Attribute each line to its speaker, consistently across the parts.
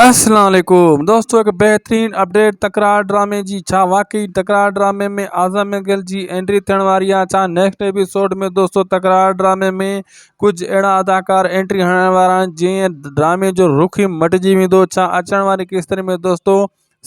Speaker 1: السلام عليڪم دوستو هڪ بهترين اپڊيٽ تڪرار ڊرامي جي ڇا واقعي تڪرار ڊرامي ۾ اعظم مينگل جي اينٽري ٿيڻ واري آهي ڇا نيڪسٽ ايپيسوڊ ۾ دوستو تڪرار ڊرامي ۾ ڪجهه اهڙا اداڪار اينٽري هڻڻ وارا آهن جنهن ڊرامي جو رخ ئي مٽجي ويندو ڇا اچڻ واري قسطن ۾ دوستو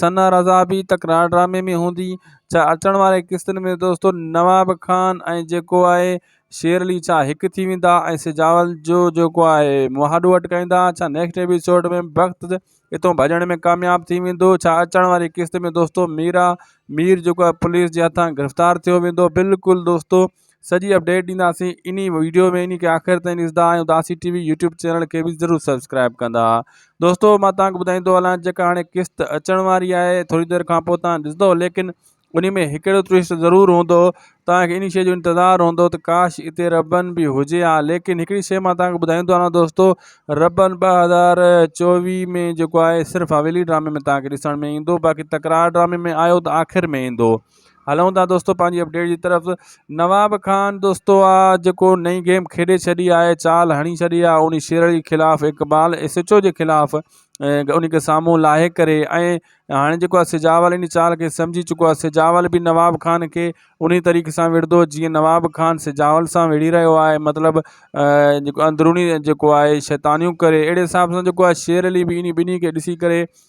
Speaker 1: ثنا رضا به تڪرار ڊرامي ۾ هوندي ڇا اچڻ واري قسطن ۾ دوستو نواب خان ۽ جيڪو آهي شير علي ڇا هڪ ٿي ويندا ۽ سجاول جو جيڪو آهي مهاڏو اٽڪائيندا ڇا نيڪسٽ ايپيسوڊ ۾ بخت اتو ڀڄڻ ۾ ڪامياب ٿي ويندو ڇا اچڻ واري قسط ۾ دوستو ميرا مير جيڪو آهي پوليس جي هٿان گرفتار ٿيو ويندو بلڪل دوستو سڄي اپڊيٽ ڏينداسين انهي ويڊيو ۾ انهي کي آخر تائين ڏسندا ۽ اداسي ٽي وي يوٽيوب چينل کي به ضرور سبسڪرائب ڪندا دوستو مان توهان کي ٻڌائيندو هلان جيڪا هاڻي قسط اچڻ واري آهي ٿوري دير کان پوء توهان ڏسندو ليڪن انهي ۾ هڪ اهڙو ٽويسٽ ضرور هوندو توهان کي انهي شيء جو انتظار هوندو ته ڪاش اتي ربن به هجي ها ليڪن هڪڙي شيء مان توهان کي ٻڌائيندو هلان دوستو ربن ٻه هزار چوويهه ۾ جيڪو آهي صرف حويلي ڊرامي ۾ توهان کي ڏسڻ ۾ ايندو باقي تڪرار ڊرامي ۾ آيو ته آخر ۾ ايندو هلون ٿا دوستو پنهنجي اپڊيٽ جي طرف نواب خان دوستو آ جيڪو نئين گيم کيڏي ڇڏي آهي چال هڻي ڇڏي آ ان شير جي خلاف اقبال ايس ايچ او جي خلاف ان کي سامهون لاهي ڪري ۽ هاڻي جيڪو آهي سجاول ان چال کي سمجهي چڪو آهي سجاول به نواب خان کي ان طريقي سان وڙهندو جيئن نواب خان سجاول سان وڙهي رهيو آهي مطلب جيڪو اندروني جيڪو آهي شيطانيون ڪري اهڙي حساب سان جيڪو آهي شير علي به ان ٻنهي کي ڏسي ڪري